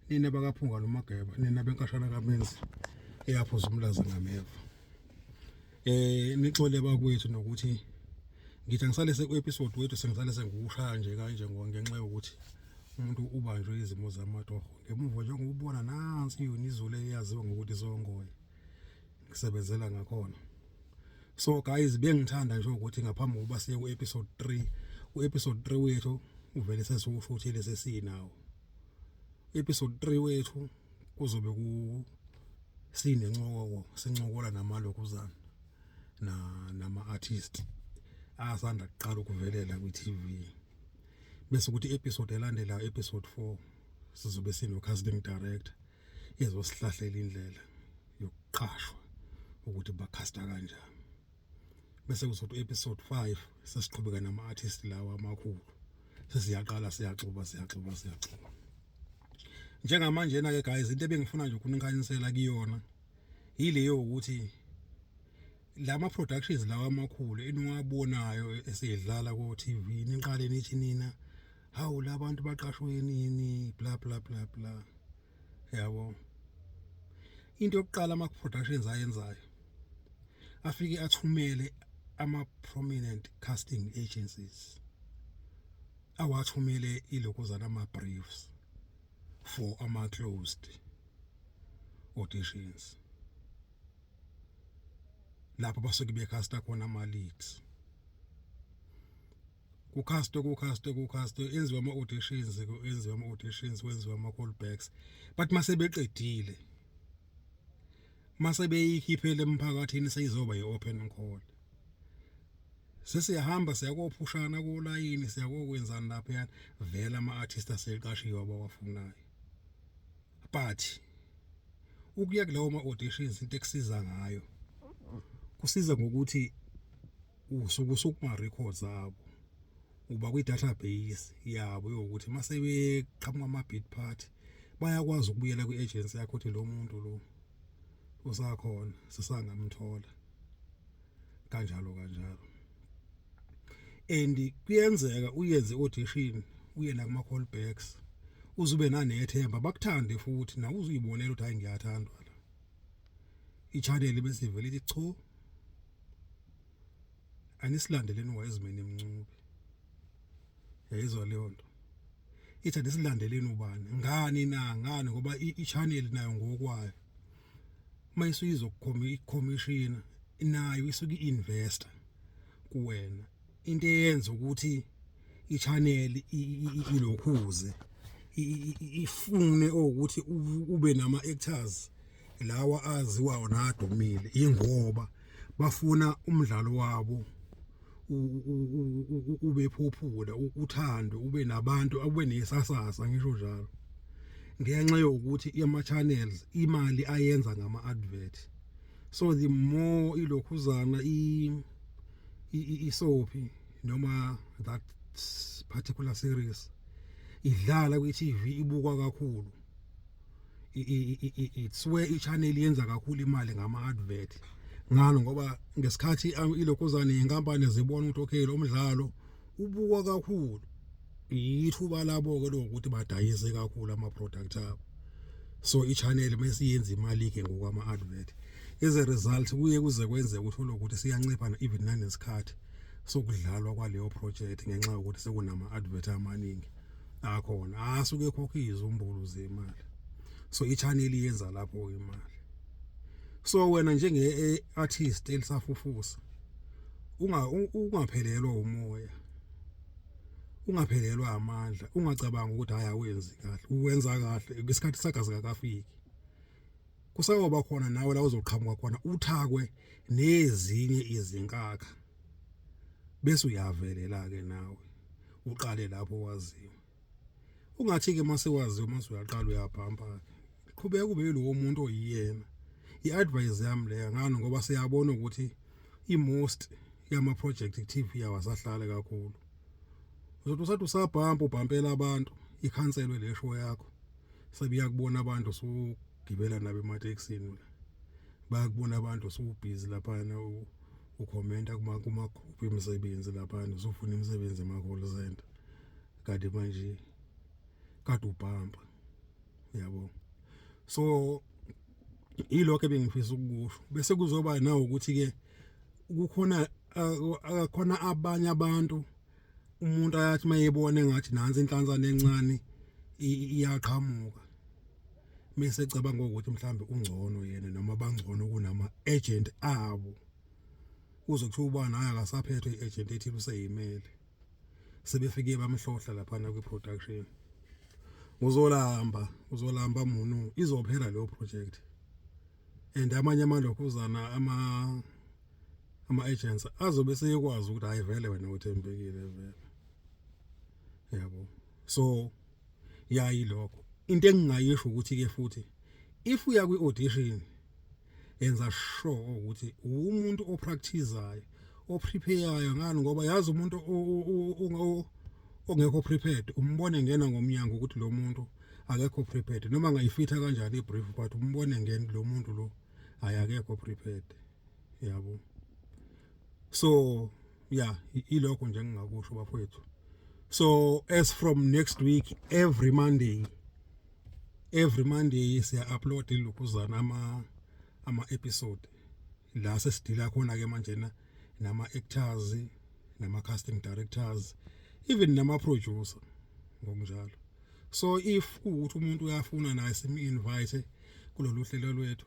nina bakaphunga nomageba nina benkashana kamenzi eyaphuza umlaza ngameva eh nixole bakwethu nokuthi ngithi angisale seku episode wethu sengisale sengiwushaya nje kanje ngenxa yokuthi umuntu ubanjwe izimo zamatoho ngemuva nje ngubona nansi yona izulu eyaziwa ngokuthi songoye ngisebenzela ngakhona so guys bengithanda nje ukuthi ngaphambi kokuba siye ku episode 3 u episode 3 wethu uvele sesiwushuthile sesinawo episode 3 wethu kuzobe ku sinencoko sincokola namalokuzana na nama artist asanda kuqala ukuvelela kwi TV bese ukuthi episode elandelayo episode 4 sizobe sino casting director ezosihlahlela indlela yokuqashwa ukuthi bakhasta kanjani bese kuzothi episode 5 sesiqhubeka nama artist lawa amakhulu sesiyaqala siyaxuba siyaxuba siyaxuba njengamanje na ke guys into ebengifuna nje ukunikhanyisela kuyona yileyo ukuthi lama productions lawa amakhulu eniwabonayo esidlala ko TV niqale nithi nina hawu labantu baqashwe nini bla bla bla bla yabo into yokuqala ama productions ayenzayo afike athumele ama prominent casting agencies awathumele iloko zalama briefs for ama closed auditions lapho basuke becasta khona ama leads kukhastwe kukhastwe kukhastwe enziwa ama auditions enziwa ama auditions kwenziwa ama callbacks but mase beqedile mase beyikhiphele emphakathini seyizoba ye open call sesiyahamba siyakophushana kolayini siyakokwenzani lapha yana vela ama artist aseqashiwe abawafunayo but ukuya kulawo ma auditions into ekusiza ngayo kusiza ngokuthi usuke usukuma records abo uba kwi database yabo yokuthi mase beqhamuka ama bid part bayakwazi ukubuyela kwi agency yakho ukuthi lo muntu lo usakhona sisangamthola kanjalo kanjalo and kuyenzeka uyenze audition uye la kuma callbacks uzube nanethemba bakuthande futhi nawe uzuyibonela ukuthi hayi ngiyathandwa i-channel bese ivele ithi cho anisilandeleni wayezimeni emncube yayizwa leyo nto ithi anisilandeleni ubani ngani na ngani ngoba i-channel nayo ngokwayo uma isuyizwa kukhomishina nayo isuke i-investor kuwena into eyenza ukuthi i-channel ilokhuze ifune ukuthi ube nama actors lawa aziwayo nadumile ingoba bafuna umdlalo wabo ube phophula uthando ube nabantu ube nesasasa ngisho njalo ngenxa yokuthi ama channels imali ayenza ngama advert so the more ilokhuzana i isoaphi noma that particular series idlala kwi-TV ibukwa kakhulu it's where i-channel yenza kakhulu imali ngama-advert ngalo ngoba ngesikhathi um, ilokhuzane yenkampani zibona ukuthi okay lo mdlalo ubukwa kakhulu yithuba labo ke lokuthi badayise kakhulu ama product abo so i channel bese yenza imali ke ngokwama advert as a result kuye kuze kwenze uthole ukuthi siyancipha even nanesikhathi sokudlalwa kwaleyo project ngenxa yokuthi sekunama advert amaningi akhona asuke khokha izumbulu zemali so i channel yenza lapho imali so wena njenge eh, artist elisafufusa unga ungaphelelwa umoya ungaphelelwa amandla ungacabanga ukuthi hayi awenzi kahle uwenza kahle isikhathi sagazi kakafiki kusayoba khona nawe la uzoqhamuka khona uthakwe nezinye izinkakha bese uyavelela ke nawe uqale lapho waziwa ungathi ke mase waziyo mase uyaqala uyabhampa qhubeka ube yilowo muntu oyiyena i-advice yami leya ngani ngoba siyabona ukuthi i-most yama-project active yawo asahlale kakhulu uzothi usathi usabhampa ubhampela abantu ikhanselwe le show yakho sebiyakubona abantu sugibela nabo emateksini la bayakubona abantu sewubhizi laphana ukhomenta kuma kuma group emisebenzi laphana usufuna imisebenzi ema call center kade manje kade ubhampa yabo so ilokho ebengifisa ukukusho bese kuzoba nawo ukuthi ke kukhona akakhona abanye abantu umuntu ayathi mayebone ngathi nansi inhlanzana encane iyaqhamuka mase cabanga ukuthi mhlambe ungcono yena noma bangcono kunama agent abo uzokuthiwa ubani hayi akasaphethwe iagent ethile useyimele sebefike bamhlohla laphana kwi-production uzolamba uzolamba munu izophela leyo project and amanye amalokhuzana ama ama-agents azobe seyekwazi ukuthi hhayi vele wena uthembekile vele yabo so yayilokho into engingayisho ukuthi-ke futhi if uya kwi-audition yenza sure ukuthi umuntu opracticeayo oprepareayo ngani ngoba yazi umuntu ongekho prepared umbone ngena ngomnyango ukuthi lo muntu akekho prepared noma ngayifitha kanjani ibrief but umbone ngeni lo muntu lo hayi akekho prepared yabo so ya ilokho nje ngingakusho bafowethu so as from next week every monday every monday siya upload ilokuzana ama ama episode la sesidila khona ke manje na nama actors nama casting directors even nama producer ngokunjalo so if ukuthi umuntu uyafuna naye simi invite kulolu hlelo lwethu